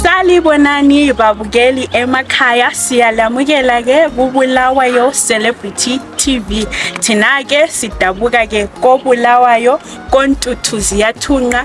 Sanibonani babukeli emakhaya siyalamukela ke kubulawayo Celebrity TV thina ke sidabuka ke kobulawayo kontuthu ziyathunqa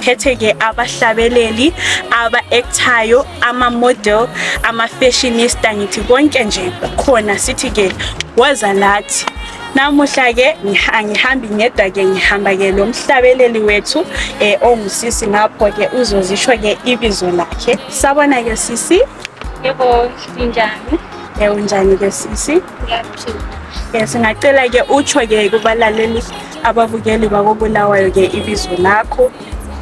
phethe ke abahlabeleli aba actayo ama model ama fashionista ngithi konke nje khona sithi ke waza lathi namuhla ke ngihambi ngedwa ke ngihamba ke lo mhlabeleli wethu um ongusisi ngapho ke uzozisho ke ibizo lakhe sabona ke sisi Yebo, ninjani? Eh unjani ke sisi? Ngiyaphila. Yes, ngacela ke utsho ke kubalaleli ababukeli bakobulawayo ke ibizo lakho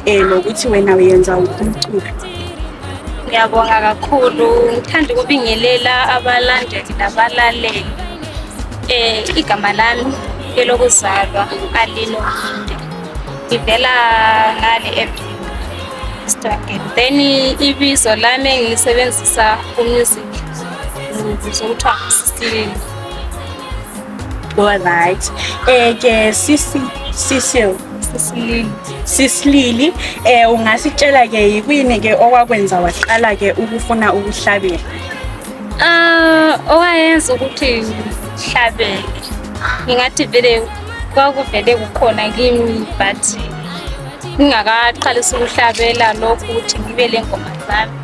eh lokuthi wena uyenza wuphi umculo. Ngiyabonga kakhulu. Ngithanda ukubingelela abalandeli labalaleli. Eh igama lami elokuzalwa Alino Mhinde. Ngivela ngale eBheka. then ibizo lami engilisebenzisa kumusic ngibizwa kuthiwa ngusisile alright um ke sisi sisil sisilili sisilili eh ungasitshela ke yikuyini ke okwakwenza waqala ke ukufuna ukuhlabela ah owayenza ukuthi ngihlabele ngingathi vele kwakuvele kukhona kimi but ngingakaqalisa ukuhlabela lokhu ukuthi ngibe lengoma zami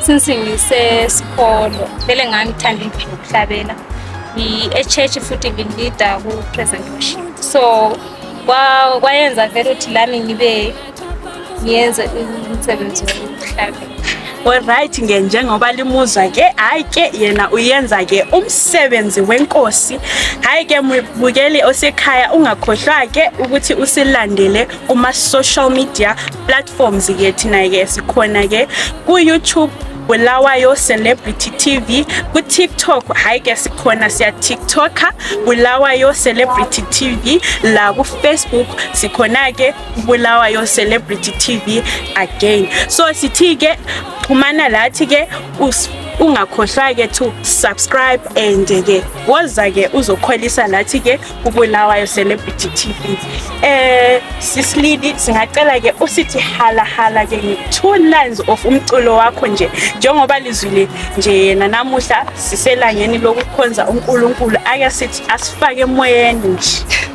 since ngisesikolo vele ngangithanda into yokuhlabela ngi-echurch futhi ngilida ku-present worship so kwayenza vele ukuthi lami ngibe ngiyenze umsebenzi wokuhlabela Alright nge njengoba limuzwa ke hayi ke yena uyenza ke umsebenzi wenkosi hayi ke mubukeli osekhaya ungakhohlwa ke ukuthi usilandele kuma social media platforms ke thina ke sikhona ke ku YouTube Bulawayo Celebrity TV ku TikTok hayi ke sikhona siya TikToker Bulawayo Celebrity TV la ku Facebook sikhona ke Bulawayo Celebrity TV again. So sithi ke xhumana lathi ke ungakhohlwa ke to subscribe and ke woza ke uzokholisa lathi ke kubulawayo celebrity tv eh sisilidi singacela ke usithi hala hala ke two lines of umculo wakho nje njengoba lizwile nje yena namuhla siselangeni lokukhonza uNkulunkulu ake sithi asifake emoyeni nje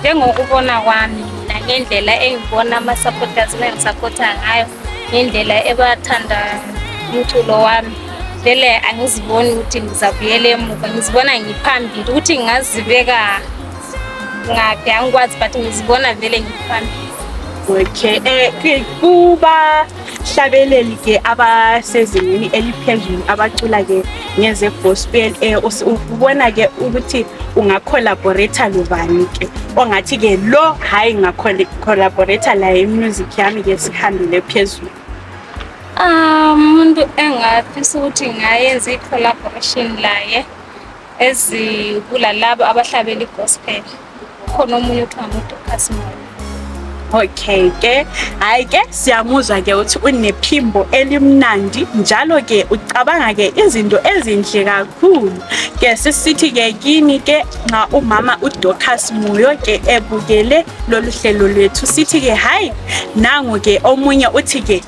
njengokubona kwami mina ngendlela engibona ama-supporters bengisapotha ngayo ngendlela ebathanda umculo wami vele angiziboni ukuthi ngizabuyela emuva ngizibona ngiphambili ukuthi ngingazibeka ngaphi angikwazi but ngizibona vele ngiphambili okay um kuba abahlabeleli ke abasezingeni eliphezulu abacula ke ngeze gospel eh, ubona ke ukuthi unga collaborator lobani ke ongathi ke lo hayi nga collaborator laye music yami ke sihambile phezulu ah, umuntu um, engafisa ukuthi ngayenza i-collaboration laye ezibulalabo abahlabela igospel khona omunye kuthiwa ngudocas mona okay ke hayi ke siyamuzwa ke ukuthi unephimbo elimnandi njalo ke ucabanga ke izinto ezinhle kakhulu ke sisithi ke kini ke nxa umama udocas muyo ke ebukele lolu hlelo lwethu sithi ke hayi nangu ke omunye uthi ke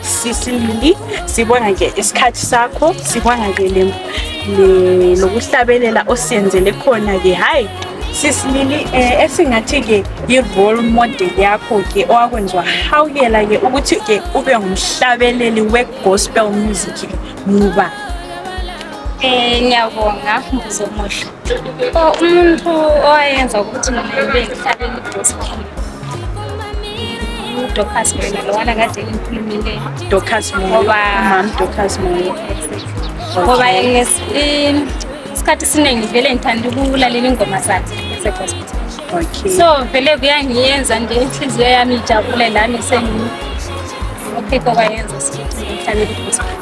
Sisi Lili, sibona nje isikhathi sakho, sibona nje le le- lokuhlabelela osiyenzele khona ke hayi sisi Lili eh, esingathi ke yi role model yakho ke owakwenziwa hawukela ke ukuthi ke ube ngumhlabeleli we gospel music muba Eh, ngiyabonga mbuzo omuhle umuntu owayenza ukuthi mina ibe ngihlale ngidosile udocas mina lowana kade ngikhulumile docas ngoba docas ngoba isikhathi esiningi vele ngithanda ukulalela ingoma zakhe ze-gospel okay. so vele kuyangiyenza nje inhliziyo yami ijabule lami sengikhipha kwayenza sihlale i-gospel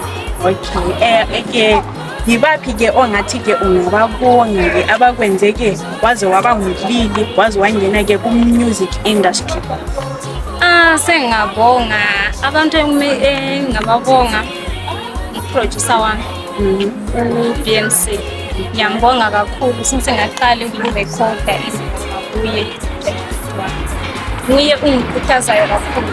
okay um eh, okay yibaphi ke ongathi ke ungababonga ke abakwenze ke waze waba ngulili waze wangena ke ku-music industry ah sengingabonga abantu engingababonga uproducer wami mm-hmm. u-bmc ngiyambonga kakhulu since ngaqala ukuyirekhoda izinto kuye nguye ungikhuthazayo kakhulu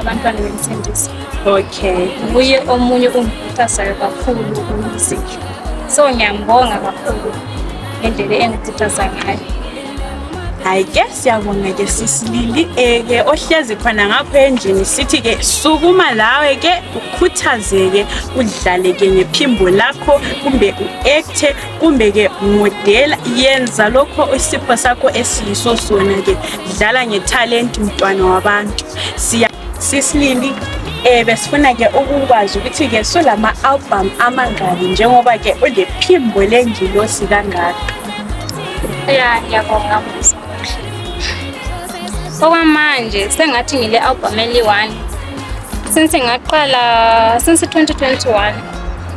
abantwana bemsindisa okay nguye omunye ongikhuthazayo kakhulu kumuziki so ngiyambonga kakhulu ngendlela engikhuthaza ngayo hayi ke siyabonga ke sisilili eke eh, ohlezi khona ngapho endlini sithi ke sukuma lawe ke ukhuthazeke udlale ke ngephimbo lakho kumbe uekthe kumbe ke modela yenza lokho isipho sakho esiyiso sona ke dlala ngethalenti mntwana wabantu siya sisilindi eh besifuna ke ukukwazi ukuthi ke sulama album amangaki njengoba ke ulephimbo lengilosi kangaka ya ngiyabonga mbuzo okwamanje sengathi ngile album eli-one since ngaqala since 2021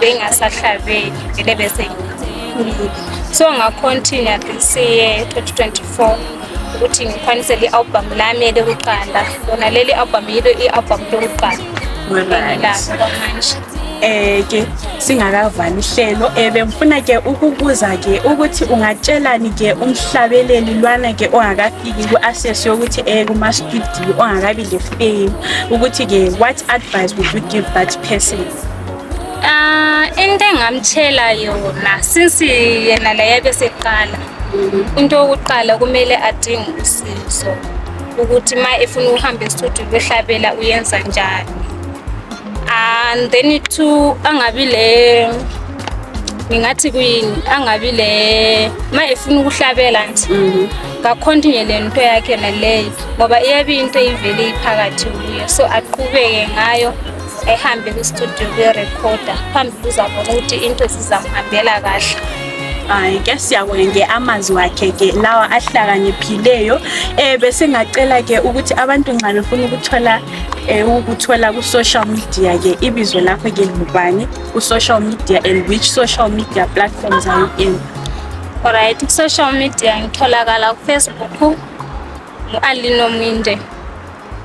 bengasahlabeli vele besengikhulile so ngacontinua siye 2024 ukuthi ngikwanise li-album lami elikuqala lona leli album yilo i-album lokuqala engilalo kwamanje eh ke singakavali ihlelo ebengifuna eh, ke ukubuza ke ukuthi ungatshelani ke umhlabeleli lwana ke ongakafiki ku-access yokuthi eh kuma-studio ongakabi le fame ukuthi ke what advice would you give that person Ah, into engamtshela yona since yena laye beseqala into yokuqala kumele adinge usizo ukuthi ma efuna ukuhamba estudio yohlabela uyenza njani and then two angabi le ngingathi kuyini angabi le ma efuna ukuhlabela nje mm. kakhontinye le nto yakhe naleyo ngoba iyabe into ivele iphakathi kuyo so aqhubeke ngayo ehambe kustudio kuyorekhoda phambi kuzabona ukuthi into zizamhambela kahle hayi ke siyabonga nge amazwi wakhe ke lawa ahlakaniphileyo eh besingacela ke ukuthi abantu nxa befuna ukuthola eh, ukuthola ku social media ke ibizo lakho ke ngubani ku social media and which social media platforms are you in alright ku social media ngitholakala ku Facebook ngu Alino Minde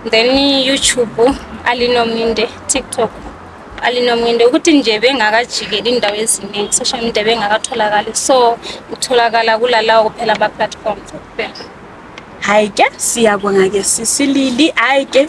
then YouTube alinominde TikTok alinominde ukuthi nje bengakajikeli indawo eziningi social media bengakatholakali so utholakala kulalawo kuphela ama platforms kuphela hayi ke siyabonga ke sisilili hayi ke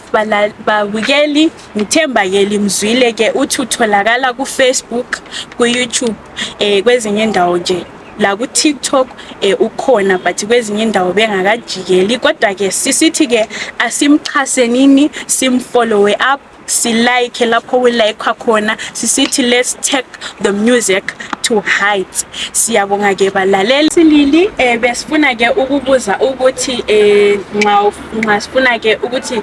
babukeli ngithemba ke limzwile ke uthi utholakala ku Facebook ku YouTube eh kwezinye indawo nje laku TikTok eh ukhona but kwezinye indawo bengakajikeli kodwa ke sisithi ke asimxhasenini simfollowe up silike lapho kulayikwa khona sisithi let's take the music to heights siyabonga ke balaleli silili eh besifuna ke ukubuza ukuthi eh nxa nxa sifuna ke ukuthi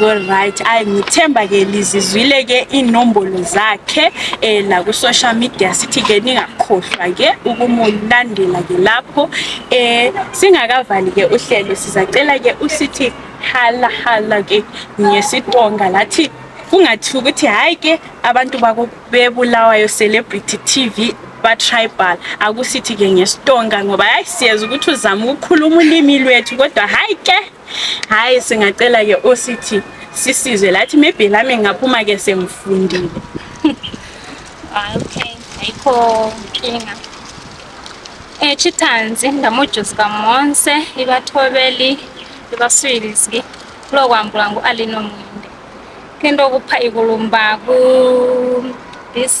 Alright, ayi ngithemba ke lizizwile ke inombolo zakhe eh la ku social media sithi ke ningakhohlwa ke ukumulandela ke lapho eh singakavali ke uhlelo sizacela ke usithi hala hala ke ngesitonga lathi kungathi ukuthi hayi ke abantu bakubebulawayo celebrity TV ba-tribal akusithi-ke ngesitonga ngoba hayi siyeza ukuthi uzama ukukhuluma ulimi lwethu kodwa hhayi ke hayi singacela ke osithi sisizwe lathi maybe lami ngaphuma ke sengifundile ah, okay ayikho nkinga echitanzi eh, ndamujuzi kamonse ibathobeli ibaswilizki kulokwambula ngu-alinomwinde kento okupha ikulumba ku-dc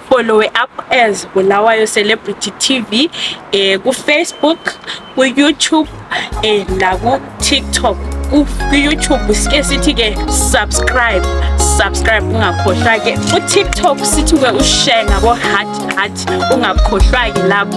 followe up as Bulawayo Celebrity TV eh, ku Facebook, ku YouTube eh, la ku TikTok. Ku YouTube sike sithi ke subscribe, subscribe ungakhohlwa ke. Ku TikTok sithi ke ushare ngabo heart heart ungakhohlwa ke lapho.